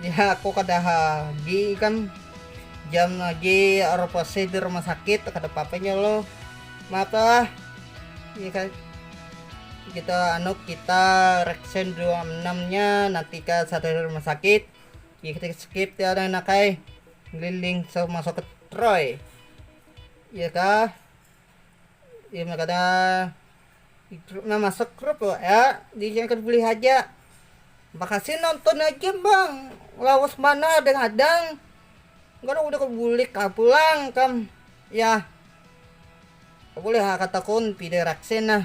ya aku kada gi kan jam lagi operasi di rumah sakit kada papanya lo mata ya kan kita anu kita reksen 26 nya nanti ke satu rumah sakit ya kita skip ya ada nakai liling so masuk ke Troy ya kah Imnya kada nah masuk grup lo ya diingatkan bulih haja makasih nonton aja bang lawas banar deng adang gara udah kebulik ah pulang kam yah boleh ha kataku pide raksin nah.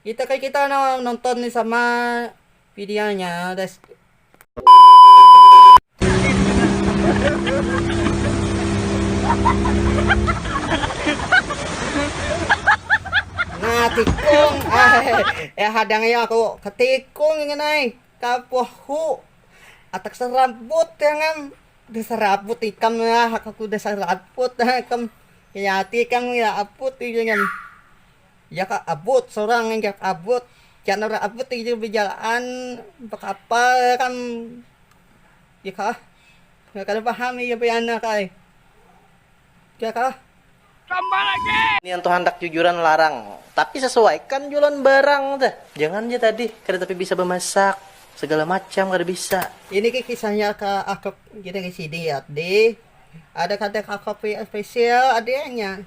Kita kaya kita no nonton ni sama videonya des. Nah tikung eh hadang ya aku ketikung ingin naik kapuh hu atak serabut jangan diserabut ikam ya aku udah serabut ikam ya hati ikam ya aput ikam Jaka abut sorang jak abut jak nara abut ijul bejalaan bekapal kam jaka kada paham ija pianak ai jaka. Nian tu handak jujuran larang tapi sesuaikan jua lawan barang teh jangan ja tadi kada tapi bisa bemasak segala macam kada bisa. Ini ke kisahnya ka akp kita ke sini ya di ada kada ka kopi spesial ada nya.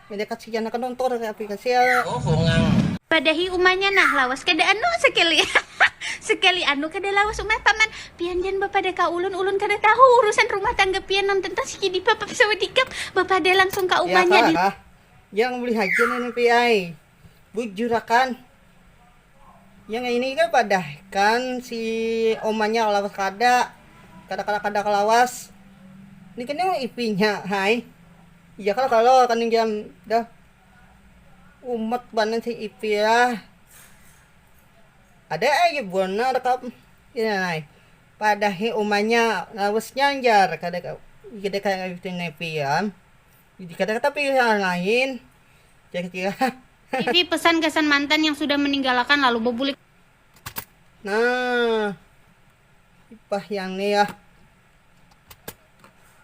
Kada kasian akan nonton kaya api kasian. Padahi umanya nah lawas kada anu sekali sekali anu kada lawas umanya paman pian jan bapada ka ulun ulun kada tahu urusan rumah tangga pian nonton tang sikidi papa sawadikap bapada langsung ka umanya di. Yang beli haja nini pi ai. Bujurakan yang ini kan padah kan si omanya lawas kada kada kada kada lawas ini kan yang ipinya hai iya kalo kalo kaning jam dah umat banar si ipi lah ada aja banar kam inanai padahi umanya lawasnya jar kada kada ipi am. Jadi kata-kata pilihan lain kira-kira. Isi pesan gasan mantan yang sudah meninggalakan lalu bebulik. Nah, ipah yang ni ya.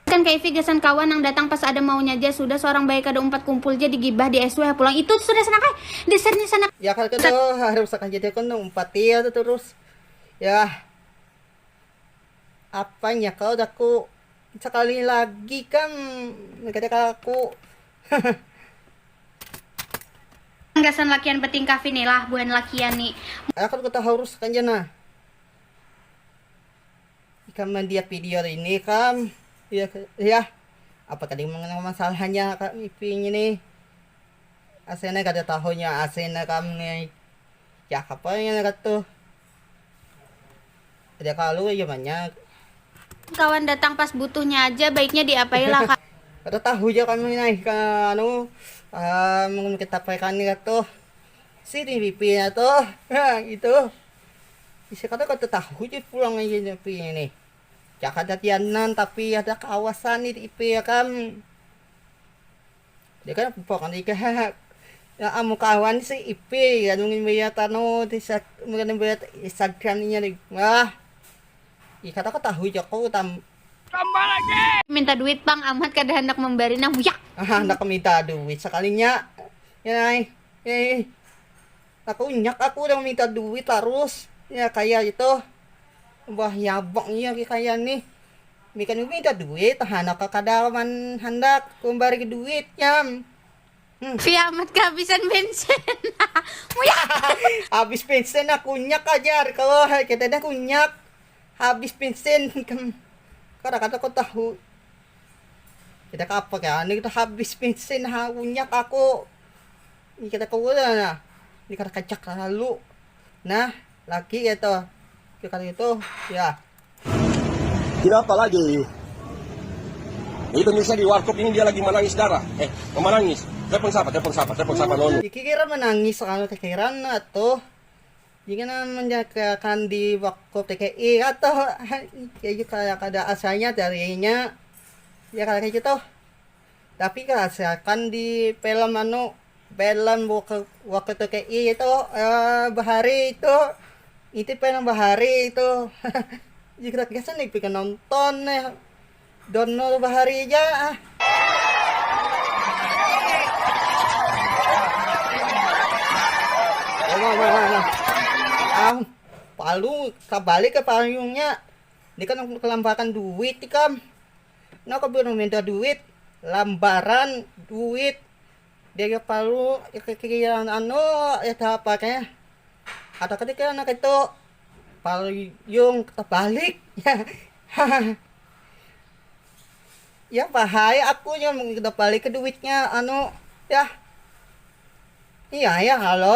Kan kaifi gasan kawan nang datang pas ada maunya ja, sudah seorang bae kada umpat kumpul ja digibah di SW ha pulang. Itu sudah sanak ai, dasarnya sanak. Ya kata kata harus akan jadi aku nang umpati ya terus. Ya, apanya kalau daku. Sakali ni lagi kang kada kalaku. Gasan lakian betingkah finilah buhan lakian ni. Aku tu kata harus akan ja nah. Ikam mandiak video ini ikam. Yah apa tadi mengenang masalahnya kami pi ngini. Asena kada tahunya asena kam ni. Yah apa ngini katuh. Ada kalu aja banyak. Kawan datang pas butuhnya aja, baiknya diapai lah kak. Kada tahu ja kami nih anu um kita paikan nih katuh si nih pipi nya tuh nah gitu isi kada katuh tahu ja pulang aja nih pi nya nih cakada tiannan tapi ada kawasan nih di ip ya kan. Deka pokoknya ikam haha amun kawan si ipy anu mimbayar anu mimbayar instagram inya lagi wah ikam tahu tahu ja ku tam. Minta duit pang amat kada handak mambari nah wuyak. Handak minta duit sakalinya. Takunyak aku udah minta duit tarus ya kaya itu, bah yabang iya lagi kaya nih, binikan ibu minta duit tahana ka kada man handak kumbari duit nyam. Fi amat kehabisan bensin muyaak. Habis bensin nah kunyak ka jar ko kita nih kunyak habis bensin ikam kada kada ko tahu kita kapa kaya nih habis bensin ha kunyak aku. Ini kada kawa lah nah, ini kada kacak lalu nah laki ya toh ya kada itu ya. Tidak apa lagi. Ini pemirsa di warkop ini dia lagi manangis darah. Eh, manangis. Telepon siapa? Telepon siapa? Telepon siapa nonu? Iki kira menangis anu tekiran atuh. Jadi kena menjakan di wakop TKI atau kayak gitu kada asanya darinya ya kayak gitu. Tapi ka seakan di film anu film waktu tki itu bahari itu itu film bahari itu jigrat gasan nih pikan nonton nih download bahari ja ah. Am, palu kabalik ke payungnya, dia kan kelampakan duit ikam. Nah aku bini minta duit lambaran duit dia kalu kekikiran anu eda apa te ada kepikiran nang itu payung tebalik hahaha ya bahaya aku nya mun kita balik ke duitnya anu yah iya ya halo.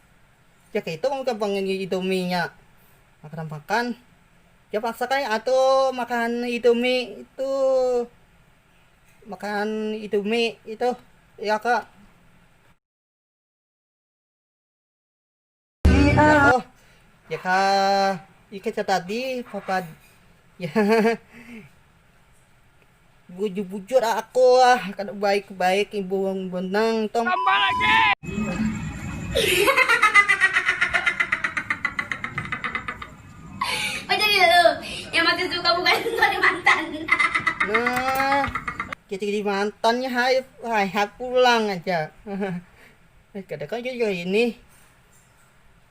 Jar keitu pang udah pang ini indomie nya makan makan jar paksa kan atuh makan indomie itu makan indomie itu ya kak ikam tadi Bujur-bujur aku ah, kada baik-baik ibu wong benang tong. Tambah lagi. Macam ni lu, yang makin suka bukan jadi mantan. Nah, kita jadi mantannya hai, hai, hai pulang aja. Kada kau jadi ini.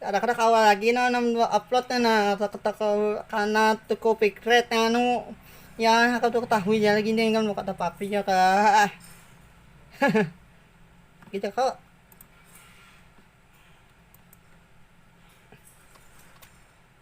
Kada kada kawa lagi nah nang ba upload nya nah kana tuku picret nang anu ya kada tahu ketahui ja lagi ikam kada apa apa ja kah itu ko.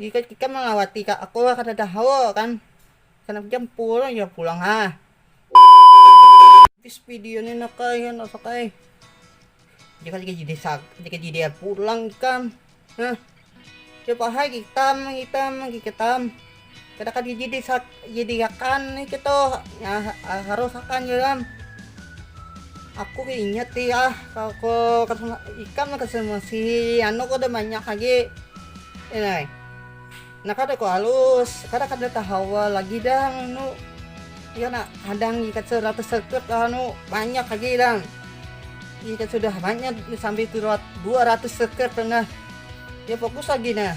Ikam ikam mangawati ka aku kada tahu kan handak jam pulang jam pulang ha. Habis video ni nak ai handak sak ai. Jika jika jadi sak jika jadi pulang ikam ha. Coba hai ikam ikam ikam kada kada jadi sak. Jadi akan ni kita nah, ah, harus akan dalam aku ingat ya kalau ikan masih anu kau udah banyak lagi ini nah kada kau halus kada kada tahawa lagi dah nu ya nak kadang ikat seratus sekut anu banyak lagi dah ikat sudah banyak sampai dua ratus sekut pernah ya fokus lagi nah